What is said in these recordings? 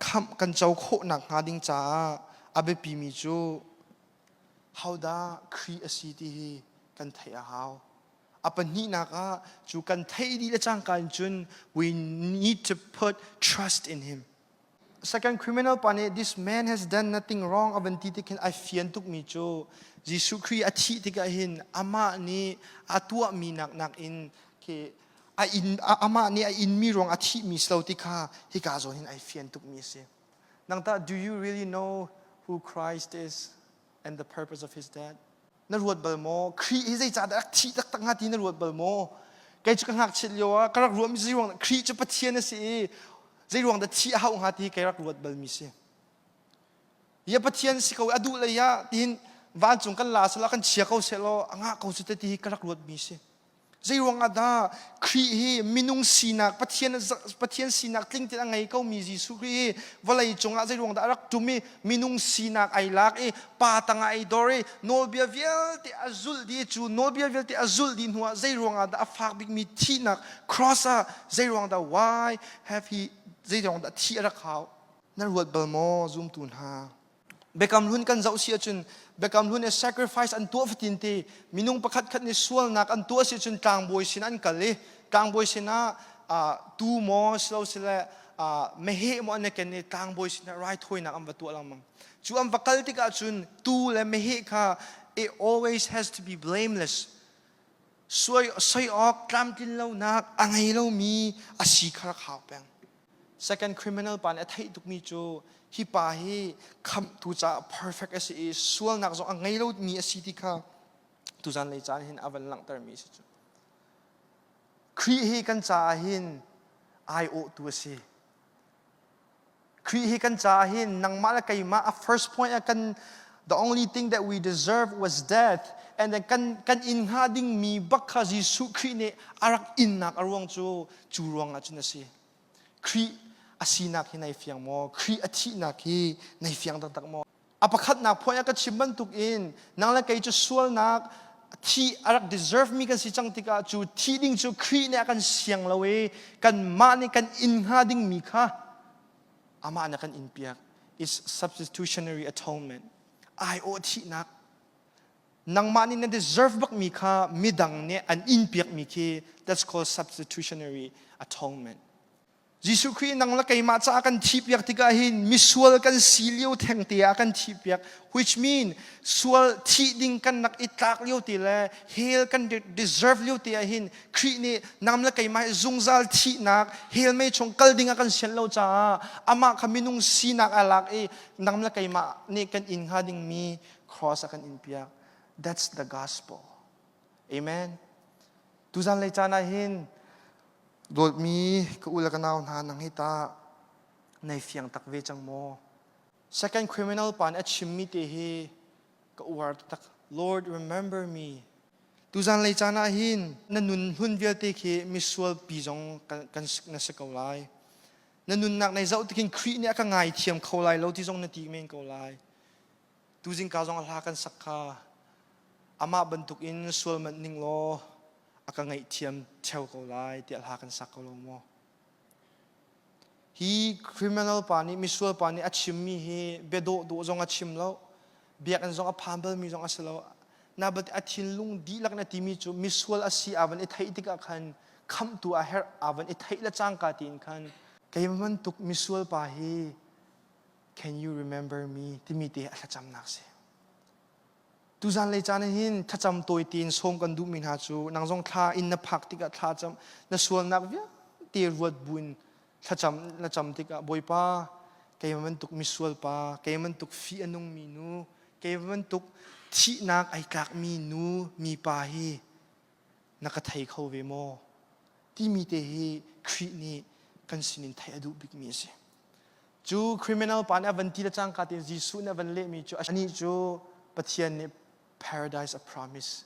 khamh kan co khawhnak hnga ding caah a biapimi cu hodah Khrih a si ti hi kan theih a hau. A pahnihnak ah cu kan theih dih le cangka in cun we need to put trust in him. Second criminal pa nih this man has done nothing wrong a van ti tikhin ai fian tukmi cu Jesuh Khrih a thih tikah hin amah nih a tuahmi nak nakin ke a inn, amah nih a inmi ruang a thihmi si lo ti kha hika zawn hin ai fian tukmi a si. Nang tah, do you really know who Christ is and the purpose of his death? Na ruat bal maw? Khrih hi zeicahdah rak thih taktak hnga ti na ruat bal maw? Kei cu ka ngakchiat lio ah ka rak ruahmi zei ruang Khrih cu Pathian a si i zei ruang dah thih a hauh hnga ti hi kei rak ruat balmi si. Hi a Pathian si ko, a duh lei ah tiin vancung kan la selaw kan chia ko sehlaw a ngah ko su te ti hi ka rak ruatmi si. Zeiruang ah dah Khrih hi minung sinak Pathian Pathian sinak tling tein a ngei ko mi Jesuh Khrih hi vawlei cungah zeiruang dah a rak ṭum i minung sinak ai lak i pa tangah ai dor i nawlbia vialte a zulh dih cu nawlbia vialte a zulh dih hnu ah zeiruang ah dah a fak bikmi thihnak cross ah zeiruang dah why have he zeiruang dah thih a rak hau nan ruat bal maw zumtu hna Biakam hlun kan zoh si ahcun Biakam hlun i sacrifice an tuah fatin ti minung pakhat khat nih sualnak an tuah si ahcun tlangbawi sin an kal i tlangbawi sinah uh, tu maw silo sile uh, mehe maw an i ken i tlangbawi sinah raithawinak an va tuah lengmang cu an va kal tikah cun tu le mehe kha it always has to be blameless Soi awk tlamtlin lonak a ngei lomi a si kha rak hau peng. Second criminal pa nih a theih tukmi cu hi pa hi khamhtu caah perfect a si i sualnak zong a ngei lomi a si ti kha tuzan lei caan hin a van langhtermi a si cu. Khrih hi kan caah hin ai awhtu a si. Khrih hi kan caah hin nangmah le keimah a first point ah kan the only thing that we deserve was death and then kan kan in hnga dingmi bak kha Jesuh Khrih nih a rak innak a ruang cu cu ruang ah cun a si Khrih a sinak hi nei fiang maw Khrih a thihnak hi nei fiang taktak maw a pakhatnak point ah ka chim bantuk in nang le kei cu sualnak thi a rak deserve mi kan si cang tikah cu thi ding cu Khrih nih a kan siang lo i kanmah nih kan in hnga ding mi kha amah nih a kan in piak is substitutionary atonement ai awh thihnak nangmah nih na deserve bak mi kha midang nih an in piak mi khi that's called substitutionary atonement Jesuh Khrih nang le keimah caah kan thihpiak tikah hin misual kan si lio thengte ah kan thihpiak which mean sual thih ding kan rak i tlak lio te le hell kan deserve lio te ah hin Khrih nih nam le keimah hi zungzal thihnak hell mei chung kal ding ah kan sian lo caah amah kha minung sinak a lak i nam le keimah nih kan in hnga dingmi cross a kan in piak that's the gospel Amen. Tuzan lei caan ah hin dawtmi ka u le ka nau hna nang hi ta nei fiang tak ve cang maw? Second criminal pa nih a chimmi te hi ka uar taktak. Lord remember me. Tuzan lei caan ah hin na nun hlun vialte khi misual pi zong kan, kan na si ko lai. Na nunnak nei zoh tikin Khrih nih a ka ngaithiam kho lai lo ti zong na ti men ko lai. tuzing ka zong a hla kan sak kha amah bantuk in sual manh ning law a ka ngaihthiam theo ko lai tiah hla kan sak ko lo maw hi criminal pa nih misual pa nih a chimmi hi biadawh dawh zong a chim lo biakinn zong a phan balmi zong a si lo na bat a thinlung dihlak na timi cu misual a si avan i theih tikah khan khamtu a herh avan i theih le cangka tiin khan keiman tuk misual pa hi Can you remember me timi te a thlacamnak si. Tuzan lei caan hin thlacam tawi tein sawm kan duhmi hna cu nang zong thla in na phak tikah thla cam na sualnak vialte ruat buin thlacam na cam tikah Bawipa keimah bantuk misual pa keimah bantuk fi a nungmi nu keimah bantuk thihnak ai tlakmi nu mipa hi na ka thei kho ve maw? timi te hi Khrih nih kan sinin theih a duh bikmi a si. Cu criminal pa nih a van ti le cangka tein Jesuh nih a van lehmi cu anih cu Pathian nih paradise a promise.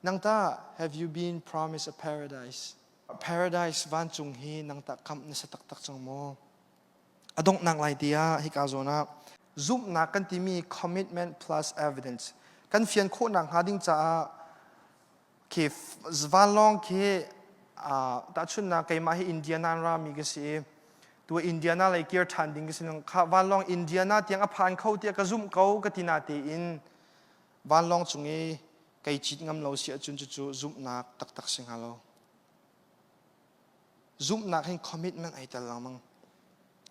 Nang tah have you been promised a paradise? Paradise vancung hi nang tah kamh na si taktak cang maw? A donghnak lai ti ah hika zawn ah zumhnak kan timi commitment plus evidence kan fian khawhnak hnga ding caah khi vanlawng khi tahchunnak keimah hi Indiana rami ka si i tu Indiana lei kir ṭhan ding ka si kha vanlawng Indiana tiang a phan kho tiah ka zumh ko ka tina tein vanlawng cung i kei cit ngam lo si ahcun cucu zumhnak taktak si hnga lo. zumhnak hin commitment ai tel lengmang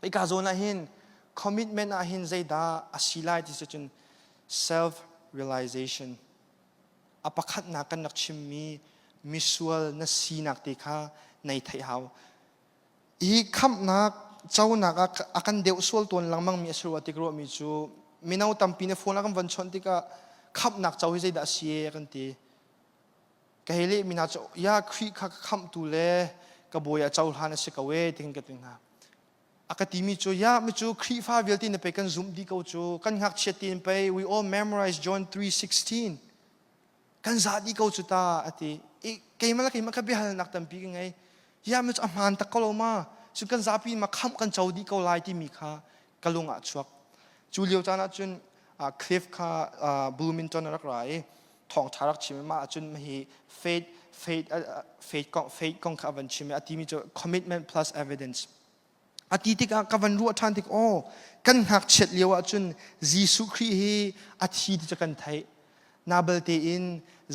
ika zawn ah hin commitment ah hin zeidah a si lai ti cu cun self realization a pakhatnak kan rak chimmi misual na sinak te kha nei thei hau hi khamhnak conak a kan deuh sual tawn lengmang mi a si rua tik ruahmi cu mino tampi na phone a kan von chawnh tikah khamhnak co hi zeidah a si kan ti ka hei leh mi hna cu ya Khrih kha ka khamhtu le ka bawi a cohlan a si ko e ting ka ti hna a ka timi cu ya mi cu Khrihfa vialte na pei kan zumh di ko cu kan ngakchiat tin pei we all memorize John 3:16 kan za di ko cu ta a ti i keimah la keimah ka biahalnak tampi ka ngei ya mi cu a hmaan tak ko lo ma cu kan zapi ma khamh kan co di ko lai timi kha ka lung ah chuak. Cu lio caan ahcun Cliff kha Bloomington a rak ra i thawngṭha rak chim i mah ahcun hi faith faith faith kong faith kong kha a van chim i a timi cu commitment plus evidence a ti tikah ka van ruah ṭhan tik aw kan ngakchiat lio ahcun Jesuh Khrih hi a thi ti cu kan theih nabal tein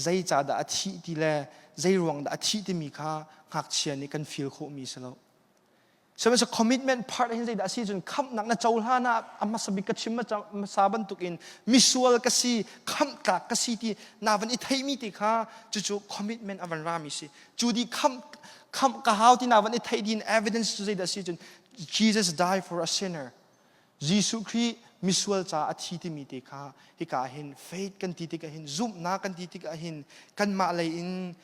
zeicah dah a thih ti le zei ruang dah a thih timi kha ngakchia nih kan feel khawhmi si lo Sihmanhseh commitment part hin zeidah a si cun khamhnak na cohlan ah a hmasa bik ka chim hmasa bantukin misual ka si khamhtlak ka si ti na van i theimi ti kha cucu commitment a van rami si cu di khamh khamh ka hau ti na van i theih din evidence cu zeidah a si cun Jesus died for a sinner Jesuh Khrih misual ca a thi timi te kha hika hin faith kan ti tikah hin zumhnak kan ti tikah hin kanmah lei in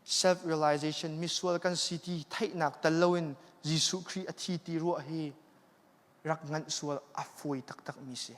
self-realization, misual kan si ti theihnak tel loin Jesuh Khrih a thi ti ruah hi rak nganh sual a fawi taktakmi si.